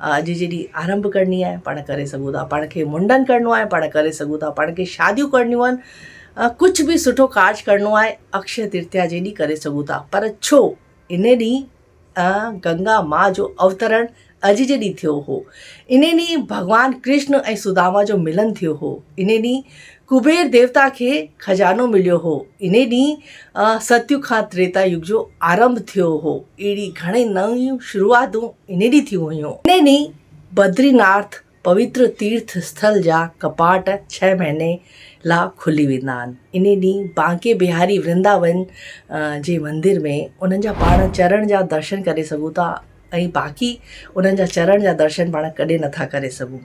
اڄ جيڏي آرنڀ ڪرڻي آهي پاڻ ڪري سگهون ٿا پاڻ کي منڊن ڪرڻو آهي پاڻ ڪري سگهون ٿا پاڻ کي شاديون ڪرڻيون آهن ڪجهه به سٺو ڪارج ڪرڻو آهي اڪشي ترتيا جي ڏينهن ڪري سگهون ٿا پر ڇو ان ڏينهن گنگا ماء جو اوترڻ اڄ جي ڏينهن ٿيو هو ان ڏينهن ڀڳوان ڪرشن ۽ سداما جو ملن ٿيو هو ان ڏينهن ڪبير ديوتا کي خزانو مليو هو. انهي ڏينهن ستيو کان تريتا يگ جو آرنڀ ٿيو هو. اهڙي گهڻي نيون شروعاتون انهي ڏينهن ٿيون هيون. انهي ڏينهن بدري نارٿ پويتر تيرٿ اسٿل جا ڪپاٽ ڇهه مهيني لا کلي ويندا آهن. انهي ڏينهن بانڪي بهاري ورنداون جي مندر ۾ انهن جا پاڻ چرڻ جا درشن ڪري سگهون ٿا ۽ باقي انهن جا چرڻ جا درشن پاڻ ڪڏهن نٿا ڪري سگهون.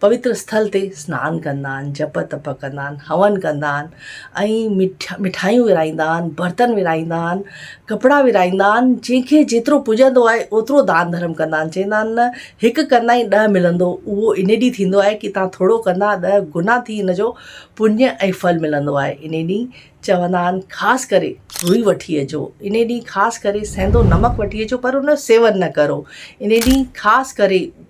پوتر اسٿل تي سنان ڪندا آهن، جپ تپ ڪندا آهن، هون ڪندا آهن ۽ مٺايون ورهائيندا آهن، برتن ورهائيندا آهن، ڪپڙا ورهائيندا آهن، جنهن کي جيترو پڄندو آهي اوترو دان ڌرم ڪندا آهن، چوندا آهن نه هڪ ڪندائين ڏهه ملندو، اهو انهي ڏينهن ٿيندو آهي ڪي تهان ٿورو ڪندا ڏهه گنا ٿي ان جو پڃ ۽ ڦل ملندو آهي، انهي ڏينهن چوندا آهن خاص ڪري روئي وٺي اچو، انهي ڏينهن خاص ڪري سينڌو نمڪ وٺي اچو پر ان جو سيون نه ڪرو، انهي ڏينهن خاص ڪري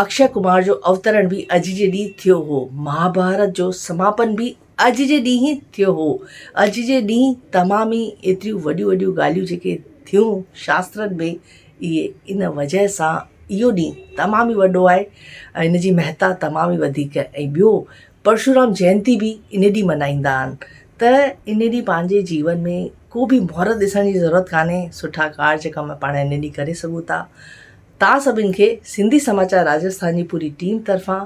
اڪشي ڪمار جو اوترڻ به اڄ جي ڏينهن ٿيو هو. مهاڀارت جو سماپن به اڄ جي ڏينهن ئي ٿيو هو. اڄ جي ڏينهن تمام ئي ايتريون وڏيون وڏيون ڳالهيون جيڪي ٿيون شاسترن ۾ اهي ان وجهه سان اهو ڏينهن تمام ئي وڏو آهي ۽ ان جي مهتا تمام ئي وڌيڪ ۽ ٻيو پرشورام جينتي به ان ڏينهن ملهائيندا آهن ته ان ڏينهن پنهنجي جيون ۾ ڪو به مهورت ڏسڻ جي ضرورت ڪانهي سٺا ڪارج ڪم پاڻ ان ڏينهن ڪري سگهون ٿا توهان سڀني کي سنڌي سماچار راجسٿان جي پوري ٽيم طرفان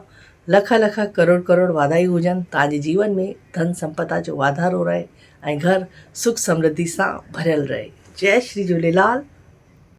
لک لک ڪروڙ ڪروڙ واڌايون هجن توهان جي جيون ۾ ڌن سمپدا جو واڌارو رهي ۽ گهر سک سمرڌي سان ڀريل رهي جئي شري جهوليلال.